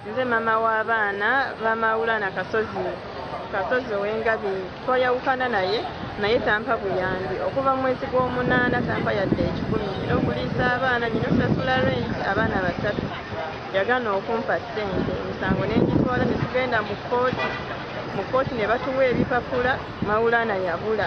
Nze mama w'abaana ba Maulana Kasozi Kasozi ow'Engabi twayawukana naye naye tampa buyambi okuva mu mwezi gw'omunaana tampa yadde ekikumi era okuliisa abaana nyina osasula rent abaana basatu yagana okumpa ssente emisango n'egitwala ne tugenda mu kkooti mu kkooti ne batuwa ebipapula Maulana yabula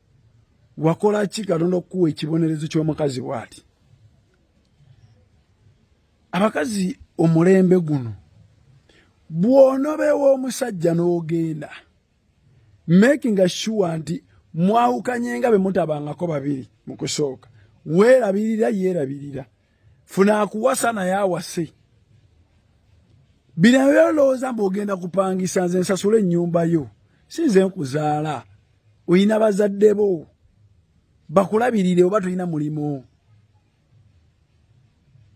wakola ki katonda okukuwa ekibonerezo kyomukazi bwati abakazi omulembe guno bwonobewa omusajja n'ogenda making sure nti mwawukanye nga bwe mutabangako babiri mu kusooka weerabirira yeerabirira funa akuwasa naye awase bino byolowooza mbu ogenda kupangisa nze nsasula ennyumba yo si nze nkuzaala olina bazadde bo bakulabirire oba tolina mulimu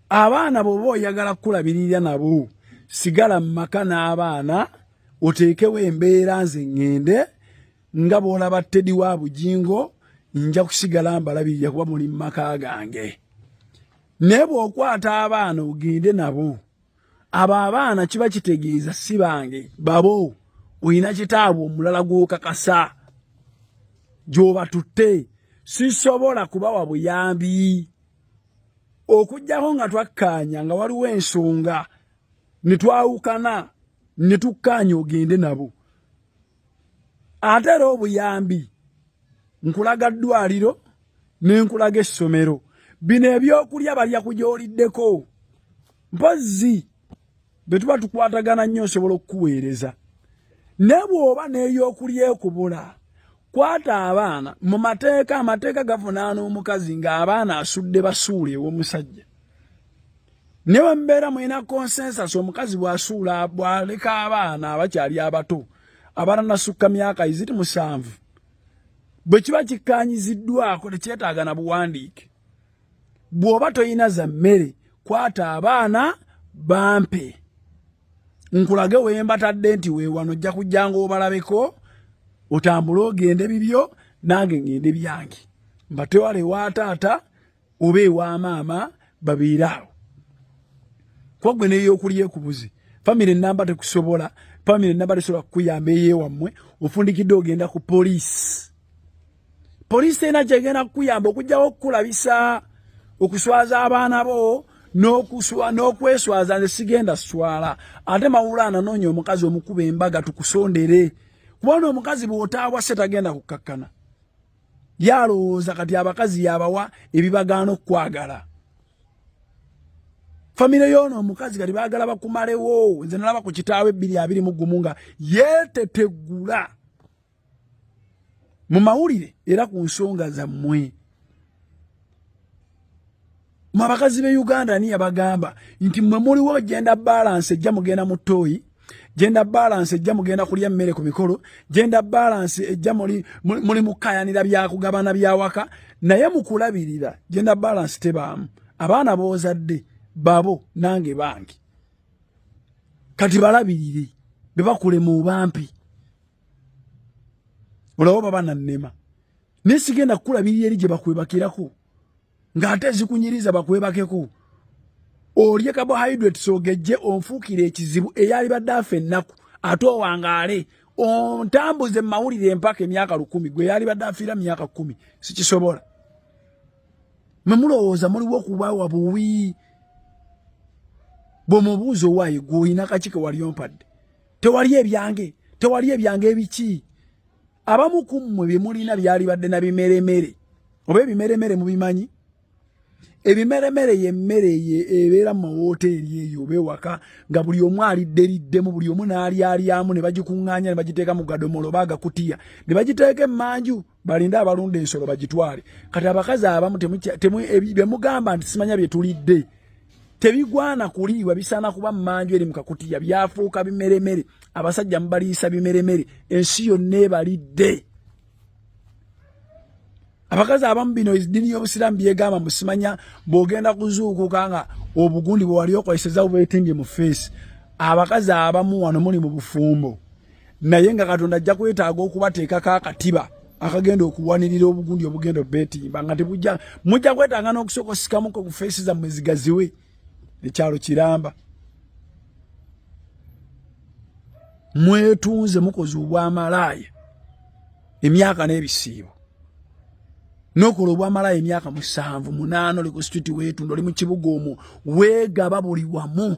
abaana bwoba oyagala kukulabirira nabo sigala mu maka n'abaana oteekewo embeera nze ŋŋende nga bw'olaba tedi wa bugingo nja kusigala mbalabirira kuba muli mu maka gange naye bw'okwata abaana ogende nabo abo abaana kiba kitegeeza si bange babo olina kitaabwe omulala gw'okakasa gy'obatutte sisobola kubawa buyambi okujjako nga twakkaanya nga waliwo ensonga ne twawukana ne tukkaanya ogende nabo ate era obuyambi nkulaga ddwaliro ne nkulaga essomero bino ebyokulya balya kugyoliddeko mpozzi bwe tuba tukwatagana nnyo nsobola okukuweereza ne bw'oba n'eyokulya ekubula kwata abaana mu mateeka amateeka gavunaana omukazi ng'abaana asudde basuula ew'omusajja ne bwe mubeera mulina consensus omukazi bw'asuula bw'aleka abaana abakyali abato abatanasukka myaka iziti musanvu bwe kiba kikkaanyiziddwako tekyetaaga na buwandiike bw'oba tolina za mmere kwata abaana bampe nkulage wembatadde nti wewano ojja kujjanga obalabeko otambule ogende bibyo nange ngende byange mbatewarewa taata oba ewa maama babeere awo kuba gwe neyokulya ekubuzi famire namba tekusobola famire namba tesobola kukuyamba eyewammwe ofundikidde ogenda ku poliisi poliisi ena kyegenda kukuyamba okugjawo okukulabisa okuswaza abaana bo n'okweswaza nze sigenda swala ate mawula ananoonya omukazi omukuba embaga tukusondere kubona omukazi bwotaabwa se tagenda kukkakkana yalowooza kati abakazi yabawa ebibagaana okukwagala famire yoono omukazi kati bagala bakumalewo nze nalaba ku kitaawo ebbiri abiri mu gumu nga yeetetegula mu mawulire era ku nsonga zammwe mwe abakazi be uganda ani yabagamba nti mwe muliwo genda balance ejja mugenda mu toyi genda balance ejja mugenda kulya mmere ku mikolo genda balance ejja muli muli mukayanira byakugabana byawaka naye mukulabirira genda balance tebaamu abaana boozadde babo nange bangi kati balabirire bebakulema obampi olaba baba nannema naye sigenda kukulabirira eri gye bakwebakirako ng'ate ezikunyiriza bakwebakeko olye carbohydrates ogejje onfuukire ekizibu eyalibadde afa ennaku ate owangaale ontambuze mawulire empaka emyaka lukumi gwe yalibadde afiira myaka kumi sikisobola mwe mulowooza muliwo okubawa buwi bwomubuuza owaaye gwe olina kaki kewali ompadde tewali ebyange tewali ebyange ebiki abamu ku mmwe bye mulina byalibadde na bimeremere oba ebimeremere mubimanyi ebimeremere yemmere ebeera mu mawooteeri eyo oba ewaka nga buli omu alidderiddemu buli omu n'alyalyamu ne bagikuŋŋaanya ne bagiteeka mu gadomola oba agakutiya ne bagiteeka emmanju balinde abalunda ensolo bagitwale kati abakazi abamu bye mugamba nti simanya bye tulidde tebigwana kuliibwa bisaana kuba mmanju eri mu kakutiya byafuuka bimeremere abasajja mubaliisa bimeremere ensi yonna ebalidde abakazi abamu bino eddiini y'obusiraamu byegamba musimanya bw'ogenda kuzuukuka nga obugundi bwe wali okozeseza bubetimbye mu feesi abakazi abamu wano muli mu bufumbo naye nga katonda ajja kwetaaga okubateekako akatiba akagenda okuwanirira obugundi obugenda obetimba nga tebujja mujja kwetanga n'okusooka osikamuko ku feesi zammwe zigaziwe ekyalo kiramba mwetunze mukoze obwamalaaya emyaka n'ebisiibo nokola obwamalaaya emyaka musanvu munaana oli ku situti weetunda oli mu kibuga omwo weegaba buli wamu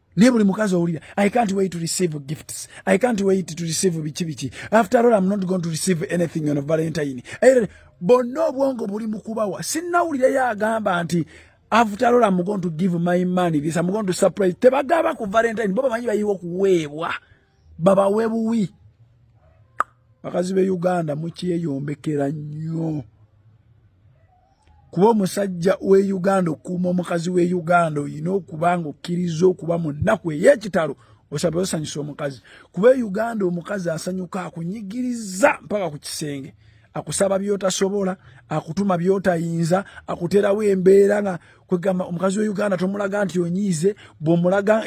naye buli mukazi owulira i can't wait to receive gifts i can't wait to receive biki biki after all i'm not going to receive anything on valentine eh, bonna obwongo buli mukubawa sinnawulirayo agamba nti after all i'm going to give my money this i'm going to surprise tebagaba ku valentine bo bamanyi bayiwa okuweebwa babawe buwi bakazi be uganda mukyeyombekera nnyo kuba omusajja w'e uganda okuuma omukazi w'e uganda olina okuba nga okkiriza okuba mu nnaku ey'ekitalo osabe osanyusa omukazi kuba e uganda omukazi asanyuka akunyigiriza mpaka ku kisenge akusaba byotasobola akutuma byotayinza akuterawo embeera nga kwegamba omukazi wa uganda tomulaga nti onyiize bwomulaga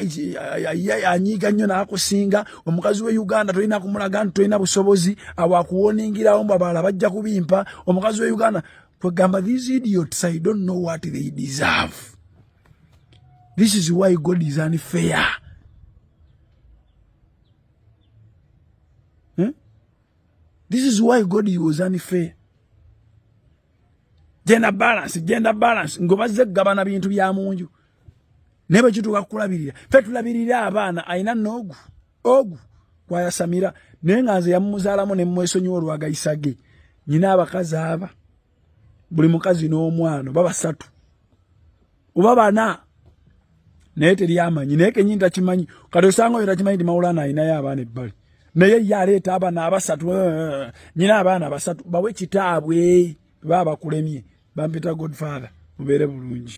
anyiiga nnyo nakusinga omukazi wa uganda tolina kumulaga nti tolina busobozi awo akuwoningirawo mbu abalala bajja kubimpa omukazi wa uganda kwegamba these idiots i don't know what they deserve this is why god is unfair hmm? this is why god was unfair genda balance genda balance ngobazze kugabana bintu bya munju naye bwekituuka kukulabirira fe tulabirira abaana ayina noogu ogu gwayasamira naye nga nze yamumuzaalamu ne mmwesonyiwa olwagayisa ge nyina abakazi aba buli mukazi n'omwana oba basatu oba bana naye teri amanyi naye kenyini takimanyi kati osanga oyo takimanyi nti mawulana alinayo abaana ebbali naye ye aleeta abaana abasatu eh, eh, eh, nyina abaana basatu bawe kitaabwe baba bakulemye bampita godfather mubeere bulungi